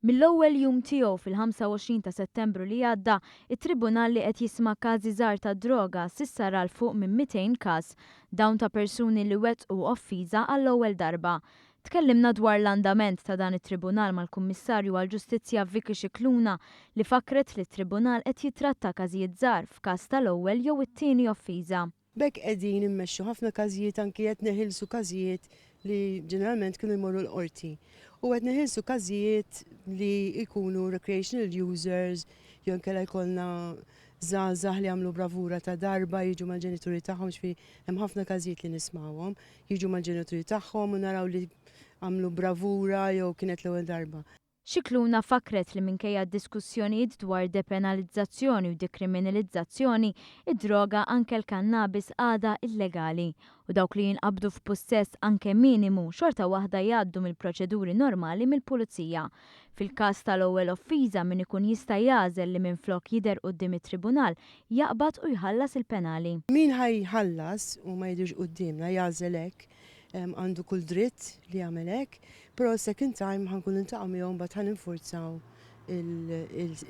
Mill-ewwel jum tiegħu fil-25 ta' Settembru li għadda, it-Tribunal li qed jisma' każi żgħar tad-droga s'issa ra 'l fuq minn 200 każ, dawn ta' persuni li wettqu offiża għall-ewwel darba. Tkellimna dwar l-andament ta' dan it-Tribunal mal-Kummissarju għall-Ġustizzja Vicky Scicluna li fakkret li t-Tribunal qed jittratta każijiet żgħar f'każ tal-ewwel jew it-tieni offiża. B'hekk qegħdin immexxu ħafna każijiet anki qed neħilsu każijiet li ġeneralment kienu jmorru l-qorti. U qed neħilsu każijiet li jkunu recreational users jew inkella jkollna żgħażagħ li jagħmlu bravura ta' darba jiġu mal-ġenituri tagħhom, jiġifieri hemm ħafna każijiet li nismgħuhom, jiġu mal-ġenituri tagħhom u naraw li għamlu bravura jew kienet l-ewwel darba. Scicluna fakkret li minkejja d-diskussjonijiet dwar depenalizzazzjoni u dekriminilizzazzjoni, id-droga, anke l-kannabis, għadha illegali, u dawk li jinqabdu f'pussess anke minimu xorta waħda jgħaddu mill-proċeduri normali mill-Pulizija. Fil-każ tal-ewwel offiża min ikun jista' jagħżel li minflok jidher quddiem it-Tribunal jaqbad u jħallas il-penali. Min ħa jħallas u ma jidhirx quddiemna jagħżel hekk Għandu kull dritt li jagħmel hekk, però s-second time ħa nkunu niltaqgħu miegħu mbagħad ħa ninfurzaw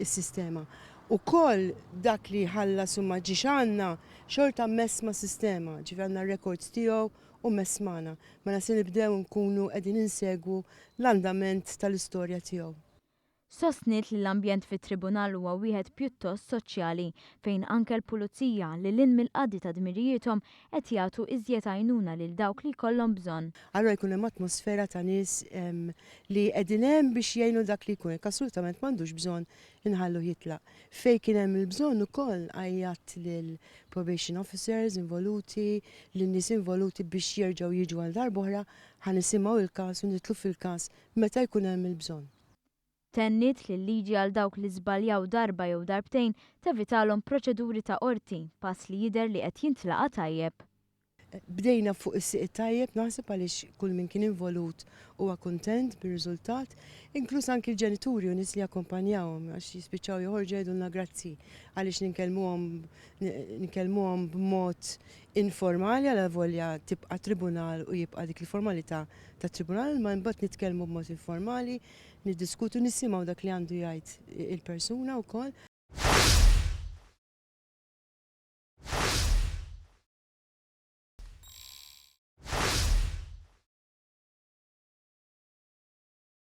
is-sistema. Ukoll dak li ħallas u ma ġiex għandna xorta mmess mas-sistema, ġifi għandna r-rekords tiegħu u mmess magħna. Mela se nibdew nkunu qegħdin insegwu l-andament tal-istorja tiegħu. Sostniet li l-ambjent fit-Tribunal huwa wieħed pjuttost soċjali, fejn anke l-Pulizija, lil hinn mill-qadi ta' dmirijiethom, qed jagħtu iżjed għajnuna lil dawk li jkollhom bżonn. Allura jkun hemm atmosfera ta' nies li qegħdin hemm biex jgħinu dak li jkun hekk assolutament m'għandux bżonn inħalluh jitlaq. Fejn kien hemm il-bżonn ukoll għajjatt lill-probation officers involuti, lin-nies involuti biex jerġgħu jiġu għal darb'oħra, ħa nisimgħu l-każ u nidħlu fil-każ meta jkun hemm il-bżonn. Tenniet li l-liġi għal dawk li żbaljaw darba jew darbtejn tevitalhom proċeduri ta' qorti, pass li jidher li qed jintlaqa' tajjeb. Bdejna fuq is-sieq it-tajjeb naħseb għaliex kull min kien involut huwa kuntent bir-riżultat, inkluż anki l-ġenituri u nies li jakkumpanjawhom għax jispiċċaw joħorġu jgħidulna grazzi għaliex ninkellmuhom ninkellmuhom b'mod informali alavolja tibqa' tribunal u jibqa' dik il-formalità tat-tribunal imma imbagħad nitkellmu b'mod informali, niddiskutu, nisimgħu dak li għandu jgħid il-persuna wkoll.